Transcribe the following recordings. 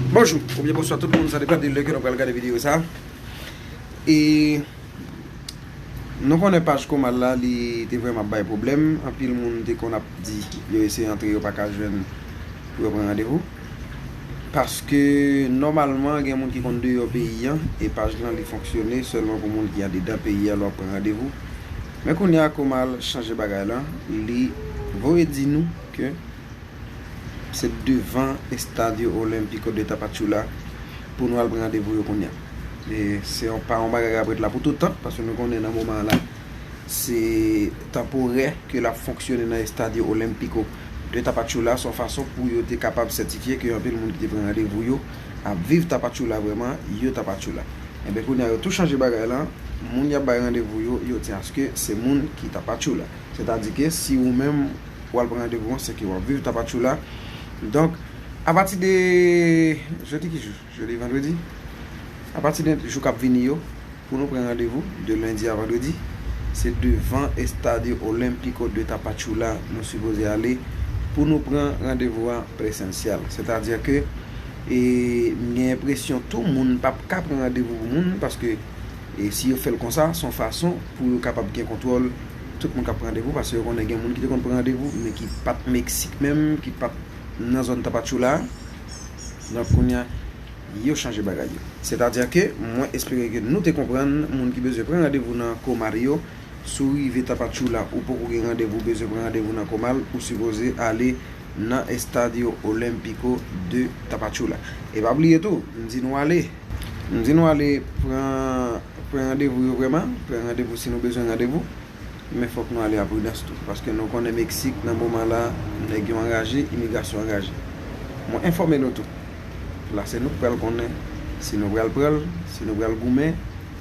Bonjou, oubyen bonswa tout moun sa depan de lè ke nou pral gade videyo sa E nou konnen paj koma la li te vreman bay problem Anpil moun te kon ap di yo ese antre yo pa ka jwenn pou yo pran randevou Paske nomalman gen moun ki kon de yo peyi an E paj lan li fonksyone selman pou moun ki ade dan peyi an lò pran randevou Men kounye a koma chanje bagay lan li voye di nou ke Se devan Estadio Olímpico de Tapachula pou nou al pran randevou yo kounye a. E se yon pa yon bagay k ap ret la pou tout tan, paske nou konnen nan moman an la, se tanporè ke l ap fonksyone nan Estadio Olímpico de Tapachula. Se yon fason pou yo te kapab sètifye ke anpil moun ki te pran randevou yo ap viv Tapachula vrèman, yo Tapachula. Enben kounye a yo tou chanje bagay la, moun y ap bay randevou yo, yo di aske se moun ki Tapachula. Sètadi ke si ou menm. pou al pran randevou an, se ke wap viv Tapachula. Donk, a pati de, jodi ki jou? Jodi vandredi? A pati de jou kap vini yo, pou nou pran randevou, de lendi a vandredi, se devan Estadio Olímpico de Tapachula nou sipoze ale, pou nou pran randevou an presensyèl. Sètadi ke, e, m gen enpresyon tou moun pap ka pran randevou pou moun, paske, e, si yo fèl konsa, son fason pou yo kapab gen kontwòl. Tout moun kap pran randevou paske yo konnen gen moun ki te konn pran randevou men ki pat Mexique menm, ki pat nan zòn Tapachula a. Donk kounya yo chanje bagay yo. Sètadi ke mwen espere ke nou te konprann moun ki bezwen pran randevou nan Comar yo, si w rive Tapachula ou poko gen randevou ou bezwen pran randevou nan Comal, ou sipoze ale nan Estadio Olímpico de Tapachula. E pa bliye tou, m di nou ale. M di nou ale pran pran randevou yo vrèman, pran randevou si nou bezwen randevou, men fòk nou ale a pridans tou, paske nou konnen Meksik nan moman la nèg yo anraje, imigrasyon anraje. Mwen enfòme nou tou. La se nou k pral konnen si nou pral pran l, si nou pral goumen,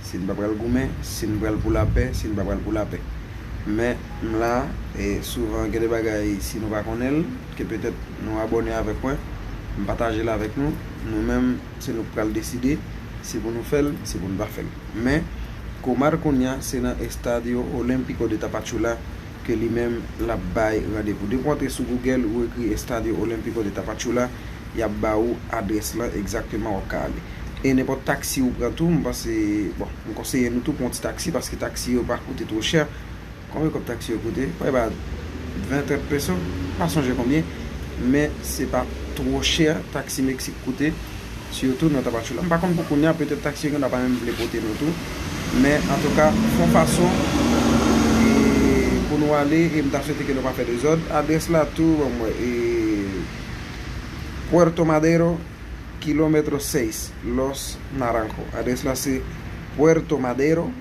si n pa pral goumen, si n pral pou lapè, si n pa pral pou lapè. Men m la e souvan gen de bagay si nou pa konnen l, ke petèt nou abòne avèk mwen, m pataje l avèk nou, nou menm. Se nou k pral deside si pou nou fè l, si pou nou pa fè l. Men, Komar kounya se nan Estadio Olímpico de Tapachula ke li menm l ap bay randevou. Depi w antre sou Google, ou ekri Estadio Olímpico de Tapachula, y ap ba ou adrès lan egzakteman w ap ka ale. E nenpòt taksi ou pran tou, m panse, bon, m konseye nou tou pran yon ti taksi paske taksi yo pa koute two chè. Konbyen kòb taxi yo koute? Prè ba 20 30 peso, m pa sonje konbyen, men se pa two chè taxi Mexique koute, sitou nan Tapachula. M pa konn pou kounya, petèt taxi yo gen dwa pa menm vle pote nou tou, men antouka fon fason pou nou ale e m ta swete ke nou pa fè dezòd. Adrès la tou, banm wè, e Puerto Madero, kilometro 6, Los Naranjo. Adrès la se Puerto Madero.